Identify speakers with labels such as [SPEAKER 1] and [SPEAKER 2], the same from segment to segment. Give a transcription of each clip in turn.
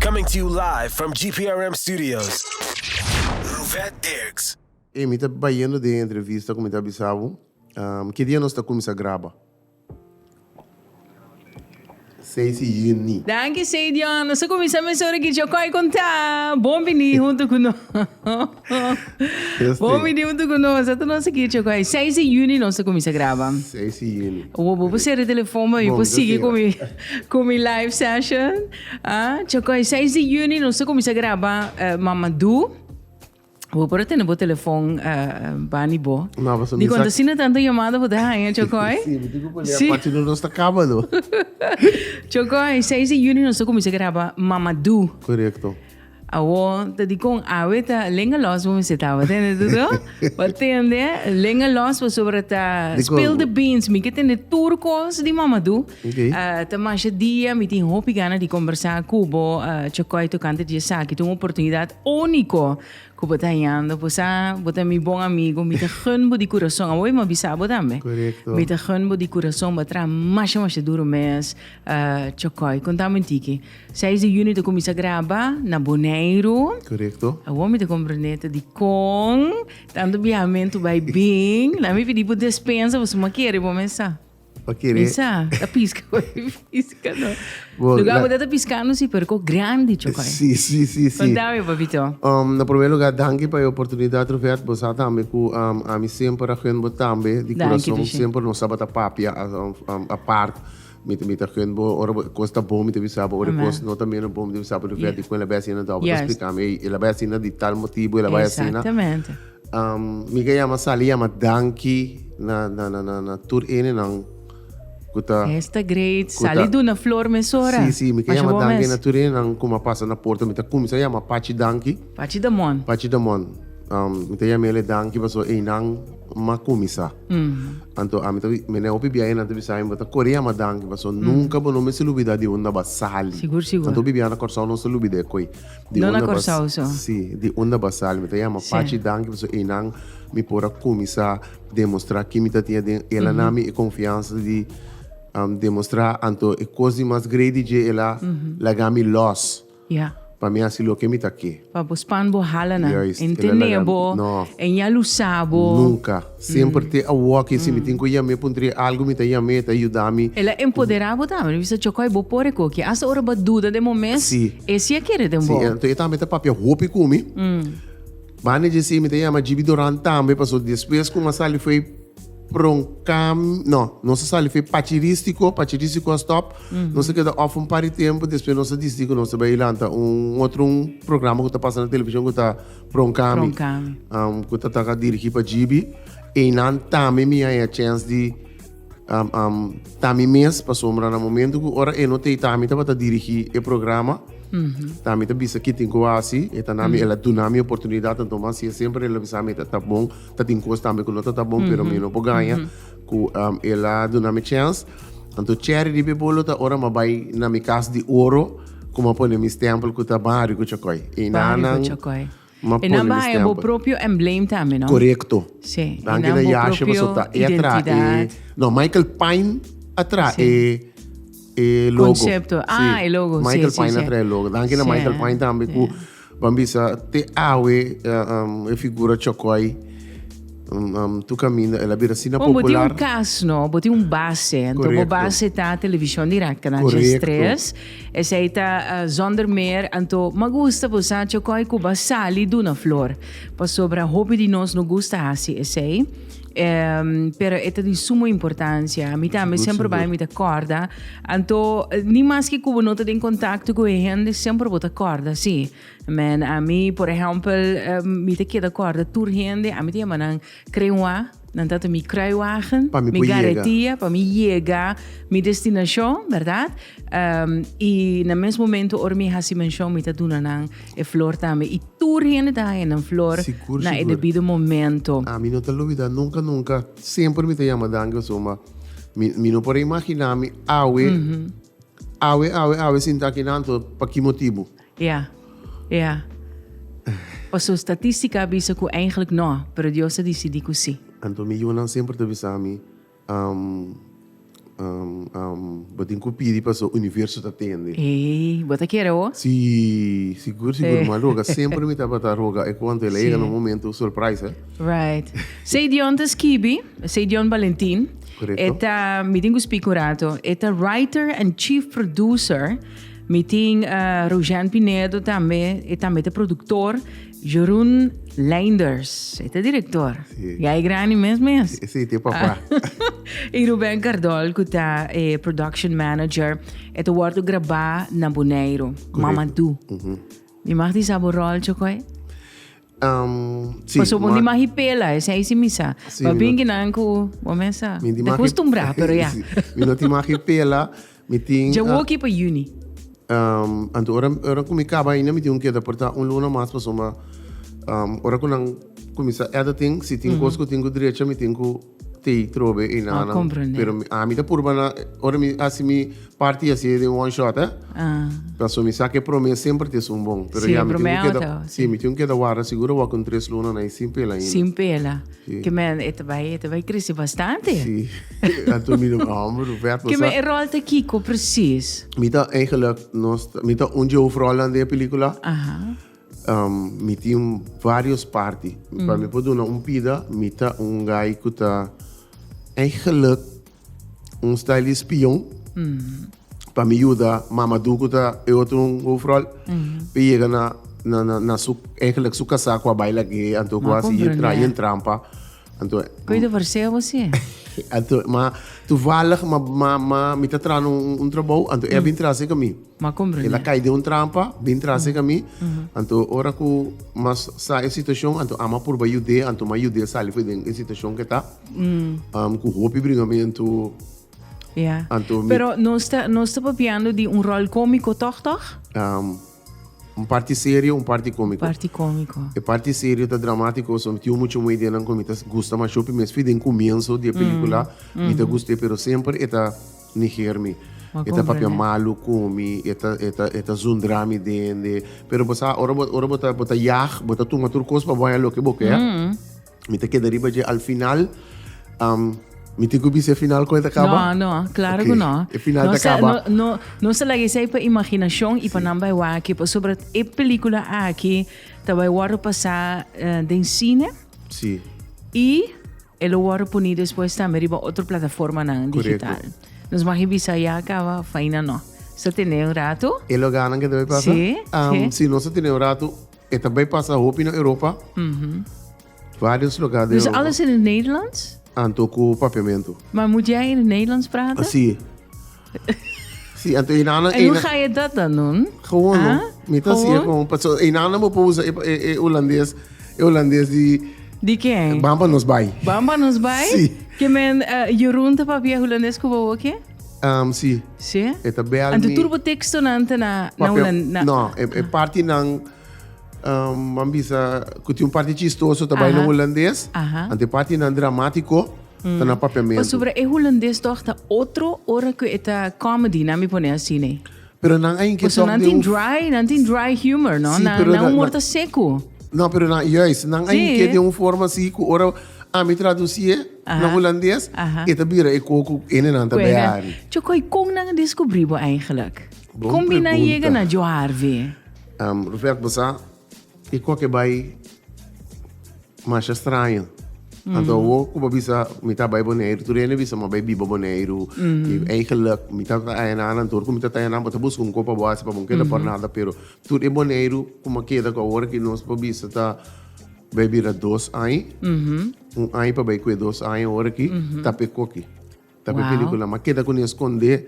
[SPEAKER 1] Coming to you live from GPRM studios. Ruvet Dirks. Ey, mi ta
[SPEAKER 2] bayendo den e entrevista cu mi ta bisa bo, um, kidia nos ta cuminsa graba? Seisyini. Danki Seidion,
[SPEAKER 3] nos a kuminsá mester ora ki dj'e kòi kon ta. Bon bini huntu ku nos. Yes Bon ti. bini huntu ku nos. Ata nos a ki dj'e kòi. Seis di yuni nos ta kuminsá graba. Seisyini.
[SPEAKER 2] Bo bo por sera e telefòn
[SPEAKER 3] pa mi Bon, por sigui yo ku mi ku mi live session. Ah, dj'e kòi seis di yuni nos ta kuminsá graba eh, Mamadu. Bo por a tene bo telefon bani bo. No, paso Di konta si na tantu yamada bo ta haña, Chokoi? Si, bo tin ku kuleha Sí.
[SPEAKER 2] pachi no nos ta kaba no.
[SPEAKER 3] Chokoi, 6 di yuni nos ta kuminsá graba Mamadú. Korekto.
[SPEAKER 2] Awo
[SPEAKER 3] ta dikon awe ta lenga los bo mester taba tende tudu. Bo tende lenga los pasobra ta Dikon? spill the beans. Mi ke tende tur kos di Mamadú. Ta
[SPEAKER 2] masha
[SPEAKER 3] dia mi tin hopi gana di kombersá ku bo Chokoi tokante di esaki. Ta un oportunidat úniko ku bo ta hañando. Por sa bo ta mi bon amigu. Mi ta gun bo di kurason. Awor mi a bisa bo tambe. Mi ta gun
[SPEAKER 2] bo di
[SPEAKER 3] kurason. Bo a traha masha masha duru mes Chokoi. Konta mi un tiki. Seis di Yunio ta kuminsá graba na Boneiru. Awor
[SPEAKER 2] mi ta komprendé
[SPEAKER 3] ta dikon tantu biahamentu bai bin. Laat mi pidi bo despensa pasobra mi a kere bo mester. Pa kere. Esa,
[SPEAKER 2] ta pisca
[SPEAKER 3] con pisca, no. Bo, Lugar la- bo ta
[SPEAKER 2] piscando
[SPEAKER 3] si pero con grande chocoy. Sí, sí, sí, sí. Contame,
[SPEAKER 2] papito.
[SPEAKER 3] Um, na primer lugar,
[SPEAKER 2] danki pa e oportunidad, Ruvet. Bo sa tambe ku um, ami semper a gun bo tambe di Danki, kurason. Trishe. Semper nos tabata papia a- um, um, apart. Mi, ta- mi ta gun bo, ora bo- kos ta bon mi ta bisa bo, ora Amen. kos no ta mira bon mi ta bisa bo, Ruvet, Yeah. dikon el a bai asina, dòpia bo ta Yes. splika mi, ey, el a bai asina di tal motibu, el a bai asina. Exactamente.
[SPEAKER 3] Mi ka
[SPEAKER 2] yama sali yama danki na na na na na tur ene nan ku ta Hes ta great,
[SPEAKER 3] ku ta sali duna flor mesora. Sí, sí, mi ka Masha yama bo danki
[SPEAKER 2] mes. na tur ene nan ku mi a pasa na porta. Mi ta kumsa yama Pachi danki. Pachi Damon. Pachi
[SPEAKER 3] Damon.
[SPEAKER 2] Mi ta yam'e ale danki paso einan mi a kuminsá. Anto ami ta bisa, mene hopi biaha einan ta bisa ami, bo ta kore yama danki paso nunka bo no mester lubidá di unda bo a sali. Sigur, sigur. Anto hopi biaha
[SPEAKER 3] na Kòrsou
[SPEAKER 2] nos ta lubid'e ko'i. No na Kòrsou so.
[SPEAKER 3] Sí, di unda basal.
[SPEAKER 2] Mi ta yama Pachi danki pasobra einan mi por a kuminsá demostrá ke mi ta tin aden. El a na mi e konfiansa di demostrá. Anto e kos di mas greidi dje el a laga mi lòs pa mi
[SPEAKER 3] hasi loke mi
[SPEAKER 2] ta ke. Pa bo span bo
[SPEAKER 3] hala nan. E ntendé
[SPEAKER 2] bo,
[SPEAKER 3] e ña
[SPEAKER 2] lusá bo.
[SPEAKER 3] Nunka.
[SPEAKER 2] Semper te awoa ke si mi tin ku yam'é pun trie algu mi ta yam'é e ta yuda mi. El a empodera bo
[SPEAKER 3] tambe, lo bisa chokoy bo por e koki asta ora bo a duda den bo mes, Sí. e si a kere
[SPEAKER 2] den bo. Sí,
[SPEAKER 3] enton e tambe ta papia
[SPEAKER 2] hopi ku mi. Banda dje sí mi ta yama Jibi Doran tambe paso despues ku mi a sali fei pronkam, no, nos a sali fei Pachiristiko, Pachiristiko a stòp, nos a keda òf un par di tempu, despues nos a disidi ku nos ta bai lanta un otro un programa ku ta pasa na televishon ku ta. Pronkami. Pronkami. Ku ta taka dirigí pa GB. Einan tambe mi a haya chèns di ta mi mes pasobra na momentu ku ora e no ta ei ta ami tabata dirigí e programa. Ta mi ta bisa ke tin ku hasi. E ta na mi, e la duna mi oportunidat anto mas siña semper el a bisa mi ta ta bon. Ta tin kos tambe ku no ta ta bon pero mi no por gaña ku el a duna mi chèns. Anto chèri di Bebolo ta ora mi a bai na mi kas di oro. Ku m'a pone mi stempel ku ta Bario ku Chokoi. I nan Bario ku Chokoi. m'a pone mi
[SPEAKER 3] stempel. I nan bai bo propio emblem tambe, no? Korekto. Si.
[SPEAKER 2] I nan
[SPEAKER 3] bo propio
[SPEAKER 2] identidat. No, Michael Pine a traha e logo. Konsepto. Ah, e
[SPEAKER 3] logo. Si, si, si. Michael Pine a traha e logo.
[SPEAKER 2] Danki na Michael Pine tambe ku. Ban bisa, te awe e figura chòkòi tu kaminda el a bira asina popular. Kon bo tin un kas no, bo
[SPEAKER 3] tin un base, anto bo base ta televishon dirèk, Canal Dies Tres, esei ta Zonder Meer, anto m'a gusta bo sa chòkòi ku bo a sali duna flor, pasobra hopi di nos no gusta hasi esei. pero e ta di sumo importancia. Mi también siempre bij mi te corda. Anto, ni más que cubo no te den contacto con e gente, siempre bo te corda, sí. Men, a mi, por ejemplo, mi te queda corda tur gente, a mi te llama nan krenwa, nan tata mi kruiwagen, mi garretia, pa mi yega mi destinacion, ¿verdad? y na mes momento ora mi hasi mention, mi ta duna nan. E flor tambe y tur hende ta haña nan flor na e debido momento. Sigur, sigur. A mi no ta lubida
[SPEAKER 2] nunca, nunca, semper mi ta yama danki pasobra ma mi, mi no por a imagina mi awe, awe, awe, awe sinta aki nanto, pa ki motibu? Ya,
[SPEAKER 3] ya. Paso statistica a bisa cu eigenlijk no, pero Dios a dicidi
[SPEAKER 2] cu
[SPEAKER 3] si.
[SPEAKER 2] Anto
[SPEAKER 3] mi
[SPEAKER 2] yunan semper
[SPEAKER 3] ta
[SPEAKER 2] bisa mi.
[SPEAKER 3] Am,
[SPEAKER 2] am, am, bo tin cu pidi pa so universo ta tende. Ey, bo ta kere
[SPEAKER 3] ho? Si,
[SPEAKER 2] sigur, sigur, m'a roga, semper mi tabata roga e cuanto el a yega na un momento surprise, eh. Right.
[SPEAKER 3] Sey Dion ta skibi, Sey Dion Valentin, Correcto. e ta,
[SPEAKER 2] mi tin cu
[SPEAKER 3] spik un rato, e ta writer and chief producer, mi tin, eh, Rogen Pinedo tambe, e tambe ta productor, Jeroen Leinders, e ta director. Si. Ya e grandi
[SPEAKER 2] mes mes.
[SPEAKER 3] Si, si, ti e papa.
[SPEAKER 2] I
[SPEAKER 3] Ruben Cardol cu ta e production manager. E ta wordo graba na Boneiro. Correcto. Mamadou. Mi mag di sa bo rol, Chocoy? Um,
[SPEAKER 2] si. Paso bo di mag
[SPEAKER 3] i pela, esey si mi sa. Si, mi no. Babingi nan
[SPEAKER 2] cu
[SPEAKER 3] bo mes sa. Mi di mag i. Decustumbrá,
[SPEAKER 2] pero ya.
[SPEAKER 3] Si. Mi no di mag i
[SPEAKER 2] pela. Mi tin. Dja woki pa juni. Anto ora ora ku mi kaba ainda mi tin ku keda portá un luna mas pasobra ma ora ku nan kuminsá eda tin si tin kos ku tin ku drecha mi tin ku tei trobe ei nan. Pero ami ta
[SPEAKER 3] purba
[SPEAKER 2] na ora mi hasi mi parti mi hasi den one shot eh pasobra mi sa ke prome semper ta es un bon pero ya mi tin ku keda si mi tin ku
[SPEAKER 3] keda
[SPEAKER 2] warda
[SPEAKER 3] seguro
[SPEAKER 2] awor kon tres luna nan ei sin pela ainda. Ke
[SPEAKER 3] men e
[SPEAKER 2] ta bai e
[SPEAKER 3] ta bai krisi bastante. Sí,
[SPEAKER 2] anto mi no mi hòmber Roberto sa. Ke men e ròl ta kiko
[SPEAKER 3] presis? Mi ta eigenlik
[SPEAKER 2] nos ta mi ta un di hoofrollen den e pelikula. Aha.
[SPEAKER 3] Mi
[SPEAKER 2] tin vários parti. Pa mi por duna un pida mi ta un guy ku ta eigenlik un style di spion pa mi yuda mama du ku ta e otro un hoofdrol pa yega na na na, na su eigenlijk su kasa ku a baila gay anto ku Ma asi ye tra comprende. yen trampa anto Koe de verseo
[SPEAKER 3] así. anto ma
[SPEAKER 2] toevallig ma ma ma mi ta trana un un trabou anto e a bin trase ka mi Ma el a comprende. kai
[SPEAKER 3] den un trampa
[SPEAKER 2] bin trase ka mi anto ora ku ma sa e situacion anto ama purba yud'e anto ma yud'e sali for den e situacion ku e ta. cu hopi bringamentu
[SPEAKER 3] anto mi. Pero
[SPEAKER 2] nos ta, nos
[SPEAKER 3] ta papiando di un rol comico toch, toch? Um,
[SPEAKER 2] un parti serio, un parti cómico. Parti cómico. E
[SPEAKER 3] parti serio ta
[SPEAKER 2] dramático, so tin mucho muy den con mi ta gusta mas shopi mes fi den comienzo de película, mm. mi ta mm. guste pero siempre eta niger mi. Eta papia malu con mi, eta eta eta zundra mi den de, pero bosa ora bota bota yag, bota tuma tur cos pa boya lo que boke, mm. Mi ta keda riba dje al final. Um, mi tin ku bise final kon ta kaba? No, no, klaro okay. ku no.
[SPEAKER 3] E final no ta kaba.
[SPEAKER 2] No, no, no se lagi
[SPEAKER 3] sei pa imaginashon sí. i pa nan bai waki. Pa sobra e pelikula aki ta bai waro pasa uh, eh, den sine. Sí.
[SPEAKER 2] I
[SPEAKER 3] e lo waro puni despues tambe riba otro plataforma nan digital. Correcto. Nos magi bisa ya kaba, faina no. Sa tene un rato? E lo ganan ke te bai pasa?
[SPEAKER 2] Sí, um, sí. Si no
[SPEAKER 3] sa tene un rato,
[SPEAKER 2] E ta bai pasa hopi na Europa. Varios loga di Europa. Dus alles in e Nederlands?
[SPEAKER 3] Anto ku
[SPEAKER 2] papiamentu. Ma mudia in e
[SPEAKER 3] Nederlands prata? Si.
[SPEAKER 2] Si, anto e nana. En hoe ga je dat dan
[SPEAKER 3] doen? Gewoon no. Mi
[SPEAKER 2] ta si e
[SPEAKER 3] gewoon.
[SPEAKER 2] Paso e nana
[SPEAKER 3] mo por
[SPEAKER 2] usa e Holandes, e Holandes di. Di ken?
[SPEAKER 3] Bamba nos bai.
[SPEAKER 2] Bamba nos bai? Si.
[SPEAKER 3] Ke men Jeroen ta papia Holandes ku bobo ke? Um, si.
[SPEAKER 2] Si? E ta
[SPEAKER 3] bel Anto mi. tur bo
[SPEAKER 2] tekstonan
[SPEAKER 3] ta na, na Papia, Holan- na- no, e, e parti
[SPEAKER 2] nan, um, man bisa, ku tin un parti chistoso ta bai na Aha. holandes. Aha. Ante parti nan dramatiko ta na papiamentu. Pasobra e holandes
[SPEAKER 3] toch ta otro ora cu eta comedy, na mi pone así, nee. Pero nan a inke
[SPEAKER 2] Pues tok nan de tin un- dry, nan
[SPEAKER 3] tin dry humor, no? Sí, nan, pero nan na- humor na- ta
[SPEAKER 2] seco.
[SPEAKER 3] No, pero nan,
[SPEAKER 2] juist, nan a Sí. inke de un forma
[SPEAKER 3] si
[SPEAKER 2] ku ora a mi tradusie, Na Hulandes e ta bira e koe ku ene nan ta behari. Chokoi, kon nan a
[SPEAKER 3] deskubri bo eigenlik? Kon bin nan
[SPEAKER 2] yega na
[SPEAKER 3] Jo
[SPEAKER 2] Harvey?
[SPEAKER 3] Rupert,
[SPEAKER 2] bo sa e koe ke bai masha straño. Anto awo ku bo bisa mi ta bai Boneiru, tur hende bisa mi a bai biba Boneiru. I eigenlik mi ta ta ayanal anto ku mi ta ta ayanal bo ta buska un koe pa bo hasi pa bo no keda por nada. Pero tur e Boneiru ku mi a keda ku awor aki nos por bisa ta bai bira dos aña. un aña pa bai cu e dos aña ora aki, ta pe coki. Ta pe pelicula. Ma keda cu
[SPEAKER 3] ni a
[SPEAKER 2] scondé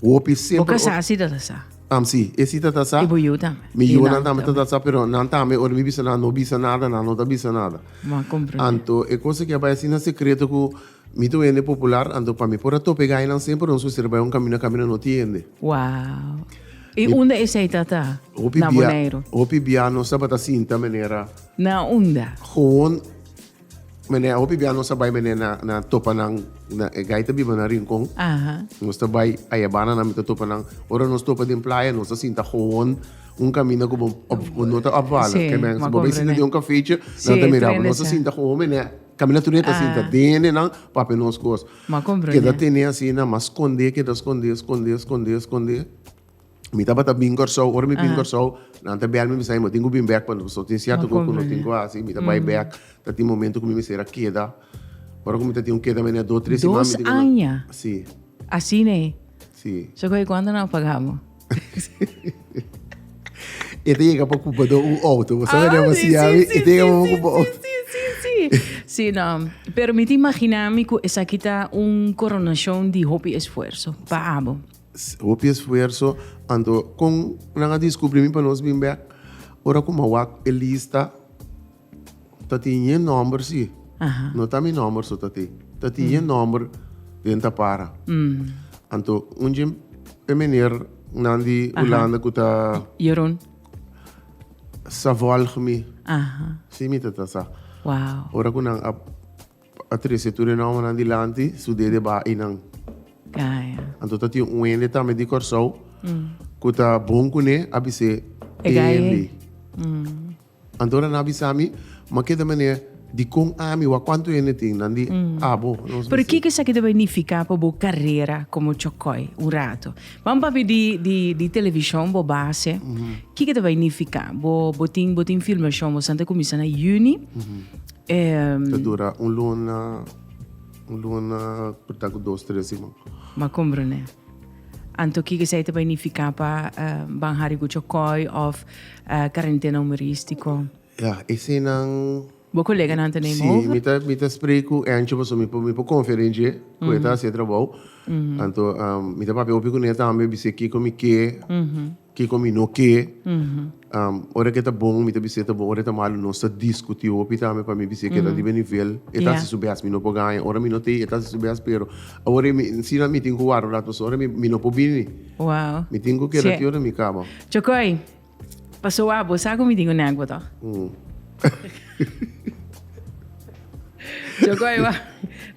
[SPEAKER 2] hopi siempre. Bo casá si
[SPEAKER 3] ta ta
[SPEAKER 2] sa?
[SPEAKER 3] Am si, e si ta ta
[SPEAKER 2] sa. Y bo yu tambe? Mi yunan
[SPEAKER 3] tambe ta
[SPEAKER 2] ta sa, pero nan tambe ora mi bisa nan no bisa nada, nan no ta bisa nada. Bo a comprende. Anto
[SPEAKER 3] e cosa ki a
[SPEAKER 2] bai asina secreto cu mi ta wende popular, anto pa mi por a tope gainan siempre nos mester bai un camino, camino no tin hende. Wow!
[SPEAKER 3] Y unda esey ta ta? Na Boneiru. Hopi bia,
[SPEAKER 2] hopi bia nos tabata sinta
[SPEAKER 3] manera.
[SPEAKER 2] Na
[SPEAKER 3] unda?
[SPEAKER 2] Gewoon mene a hopi bia nos a bai mene na na topa nan na e gaita biba na rincon nos ta
[SPEAKER 3] bai
[SPEAKER 2] ayabana nan mi ta topa nan ora nos topa den playa nos ta sinta gewoon un caminda cu bo bo no ta opvallen si comprende si bo bai sinta
[SPEAKER 3] den un
[SPEAKER 2] cafechi nan ta mirabo nos
[SPEAKER 3] ta sinta
[SPEAKER 2] gewoon mene caminda na turia ta sinta den di nan pa hapi nos cos keda
[SPEAKER 3] tene asina
[SPEAKER 2] mas sconde keda sconde sconde sconde sconde Mi tabata bin Kòrsou, ora mi bin Kòrsou, nan ta bèl mi, mi sa, mi tin ku bin bèk, pasobra tin sierto ku mi tin ku hasi, mi ta
[SPEAKER 3] bai
[SPEAKER 2] bèk, ta tin momento ku mi mester a keda, ora ku mi ta tin un keda menei dos, tres siman, mi tin ku nan. Dos aña?
[SPEAKER 3] Si.
[SPEAKER 2] Asina e?
[SPEAKER 3] Si. So ku e
[SPEAKER 2] kuantu nan
[SPEAKER 3] paga bo?
[SPEAKER 2] E ta yega pa kupa do un outo, bo sabe den, bo siña mi, e ta yega pa
[SPEAKER 3] mi kupa
[SPEAKER 2] un outo. Si, si, si,
[SPEAKER 3] si. No, pero mi ta imaginá mi ku esaki ta un koronashon di hopi esfuerso pa abo. Hopi
[SPEAKER 2] esfuerso, anto con nan a descubri mi pa nos bin bek? Ora cu mawak e lista ta tin e nomber si, no ta mi
[SPEAKER 3] nomber so ta
[SPEAKER 2] tin, ta tin e nomber den ta para. Anto un djen e meneer nan di Hulanda cu ta. Jeroen.
[SPEAKER 3] Sa volg
[SPEAKER 2] mi, si mi
[SPEAKER 3] ta ta sa.
[SPEAKER 2] Ora cu nan
[SPEAKER 3] a.
[SPEAKER 2] A trece tur e nombernan dilanti, su dede ba einan. Kaya.
[SPEAKER 3] Anto ta tin un
[SPEAKER 2] hende tambe di Kòrsou ku ta bon kuné, a bis'é E e gayé. hende. Anto ora nan a bisa mi, M'a keda manera dikon ami wak? Kuantu hende tin? Nan di abo. Nos Pero bis'é. kiko esaki
[SPEAKER 3] ta bai nifiká pa bo karera komo chòkòi un ratu? Ban papia di di di televishon bo base. Kiko ta bai nifiká? Bo bo tin bo tin filmashon, boso a ta kuminsá na yüni.
[SPEAKER 2] Ta dura un luna, un luna por ta cu dos, tres siman. M'a combrende.
[SPEAKER 3] Anto kico esey ta bay nifica pa banja riba cu coy of carentena humoristico? Ya, eseynan.
[SPEAKER 2] Bo coleganan ta
[SPEAKER 3] neem over? Si, mi ta
[SPEAKER 2] spree
[SPEAKER 3] cu
[SPEAKER 2] Angie paso mi por confia den dje cu e ta haci e trabao. Anto mi ta papia hopi cu ne tambe, bis'e kico mi ke. Kiko mi no ke, ora ke ta bon mi ta bis'é ta bon, ora e ta malu nos ta diskutí hopi tambe pa mi bis'é keda riba e nivel. E ta hasi su bes mi no por gaña, ora mi no ta ei e ta hasi su bes pero awor e si nan mi tin ku wara un ratu so ora mi no por bini. Mi tin
[SPEAKER 3] ku keda ti ora
[SPEAKER 2] mi kaba. Chokoi,
[SPEAKER 3] paso abo sa ku mi tin un nèkbot òf. Choco aywa.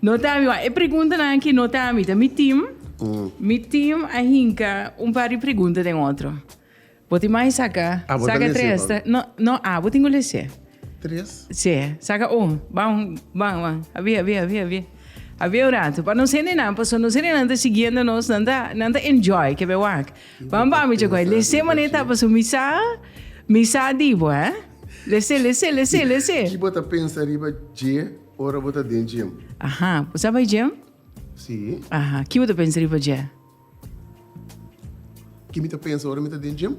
[SPEAKER 3] No te ami, e pregunta nan ki no te ami, te mi team. Mm. Mi team a hinka un par di pregunta den otro. Boti mai saka, ah, saka tres. Te,
[SPEAKER 2] no,
[SPEAKER 3] no, ah,
[SPEAKER 2] boti ngule
[SPEAKER 3] se. Tres?
[SPEAKER 2] Se, saka
[SPEAKER 3] un. Bang, bang, bang. Abia, abia, abia, abia. Abia un rato. Pa no sene nan, pa so no sene nan te siguiendo nos, nan ta, nan ta enjoy, kebe wak. Bam bam mi chegó. Lesé mané ta paso mi sa mi sa dibo, eh? Lesé, lesé, lesé, lesé. Ki bo ta pensa
[SPEAKER 2] riba dje ora bo ta den gym? Aha, bo sa bai
[SPEAKER 3] gym? Sí.
[SPEAKER 2] Aha, ki bo ta pensa
[SPEAKER 3] riba dje?
[SPEAKER 2] Ki mi ta pensa ora mi ta den gym?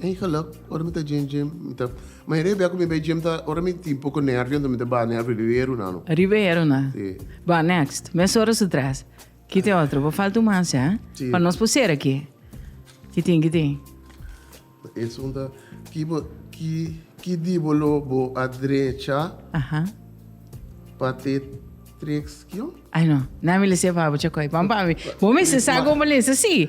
[SPEAKER 2] Ei geluk, ora mi ta den gym, mi ta mayoria di bia ku mi bai gym ta ora mi tin poko nervio anto mi ta ba nervio riba e runan. Riba e runan.
[SPEAKER 3] Sí. Bo next, mes ora su tres. Ki tin otro? Bo falta un mas ya, Sí. pa nos por cera
[SPEAKER 2] aki.
[SPEAKER 3] Ki tin, ki tin? E
[SPEAKER 2] sun ta, Ki bo, ki, ki dibolo bo a drecha Aha.
[SPEAKER 3] pa
[SPEAKER 2] te treks kion? Ay no, nan mi lesa
[SPEAKER 3] e fabor, Chacoy. Pan, pan. Bo mester sa con bo lesa, sí.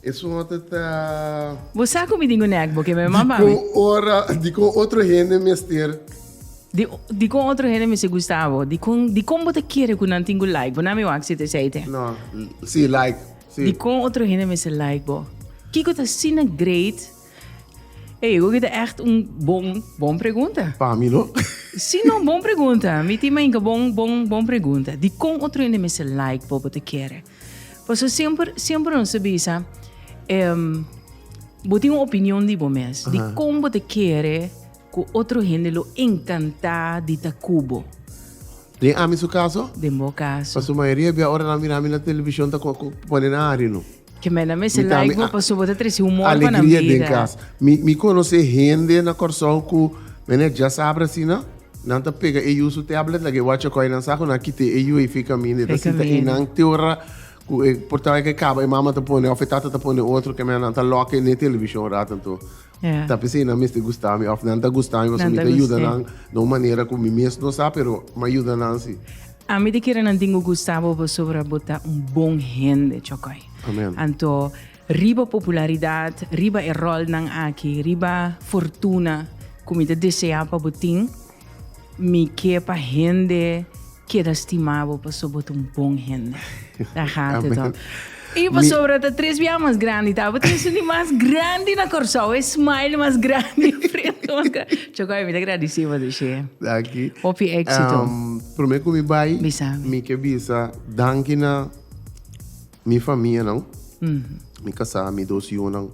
[SPEAKER 3] Esunhote ta.
[SPEAKER 2] Bo sa cu mi tin un
[SPEAKER 3] nek bo ke me mamba mi. Dicon ora, dicon
[SPEAKER 2] otro hende mester. Di,
[SPEAKER 3] dicon otro hende mester gusta bo? Dicon, dicon bo ta kere cu nan tin cu like bo? Nan mi wak si te seite. No, si,
[SPEAKER 2] like, si. Dicon otro
[SPEAKER 3] hende mester like bo? Kico ta asina great? Ey, oki ta echt un bon, bon pregunta. Pa mi no.
[SPEAKER 2] Si, no, bon
[SPEAKER 3] pregunta. Mi tin mainka bon, bon, bon pregunta. Dicon otro hende mester like bo, bo ta kere? Paso siemper, siemper nos ta bisa, em, bo tin un opinion di bo mes, di Aha. kon bo ta kere ku otro hende lo enkantá di ta ku bo. Den
[SPEAKER 2] ami su kaso, Den bo kaso. paso
[SPEAKER 3] mayoria bia ora nan
[SPEAKER 2] mira mi na televishon ta ko- ko- pone nan hari no. Keme nan mester Mi ta
[SPEAKER 3] like mi bo a- paso bo ta trese humor pa nan Alegria den bida. kas.
[SPEAKER 2] Mi mi konosé hende na Kòrsou
[SPEAKER 3] ku
[SPEAKER 2] mene djasaber asina. Nan ta pega e yu su tablet laga e wacha koi nan sa ku nan kita e yu e fi kaminda e ta sita i nan te ora ku e portao ke kaba e mama ta pone of e tata ta pone otro kemia nan ta loka e ne televishon un rato anto yeah. ta pese
[SPEAKER 3] nan mester
[SPEAKER 2] gusta mi of nan ta gusta mi paso mi ta yuda nan
[SPEAKER 3] na un
[SPEAKER 2] manera
[SPEAKER 3] ku mi
[SPEAKER 2] mes no sa pero ma yuda nan si a mi te kere
[SPEAKER 3] nan tingu gusta bo pasobra bo ta un bon hende chokoi amen anto Riba popularidad, riba e rolnan aki, riba fortuna cu mi ta desea pa bo tin, mi ke pa hende keda stima bo pasobra bo ta un bon hende. Daar gaat het om. Y pasobra ta tres biaha mas grandi ta. Bo ta esun di mas grandi na Corsou, e smile mas grandi, e frente mas grandi. Chocoy, mi ta gradici bo deshe. Danki. Hopi
[SPEAKER 2] exito.
[SPEAKER 3] Prome cu mi
[SPEAKER 2] bay, mi ke bisa danki na. Mi famianan, mi kasá, mi dos yunan,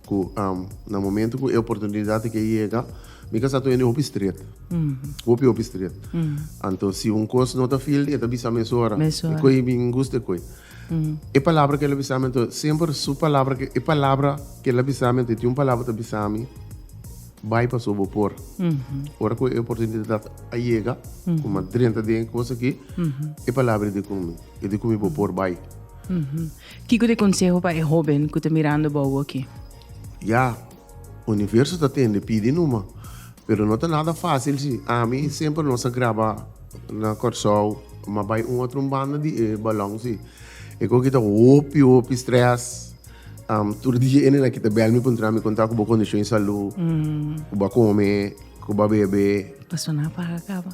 [SPEAKER 2] ku na momentu ku e oportunidat a ke yega, mi kasá ta wende hopi stret. Hopi, hopi stret. Anto si un kos no ta fil, e ta bisa mi mesora. E koi mi gusta e
[SPEAKER 3] koi.
[SPEAKER 2] E palabra ku el a bisa mi, anto semper su palabra, e palabra ku el a bisa mi, anto e tin un palabra ku el ta bisa mi, bai pasobra bo por. Ora ku e oportunidat a yega, kuma drenta den e kos aki, e palabra e di ku mi. y di cu mi bo por bay.
[SPEAKER 3] Kico ta e conseho pa e hoben cu ta mirando bao aki? Ya,
[SPEAKER 2] Universo ta tende pidi numa, pero no ta nada facil si. Ami y Semper nos a graba na Corsou, ma bay un otro un banda di e balon si. E cu a kita hopi hopi stress. Tur dia ene na kita bel mi puntra mi conta cu bo condicion salu, cu bo a come, cu bo a bebe. Paso na paga
[SPEAKER 3] caba.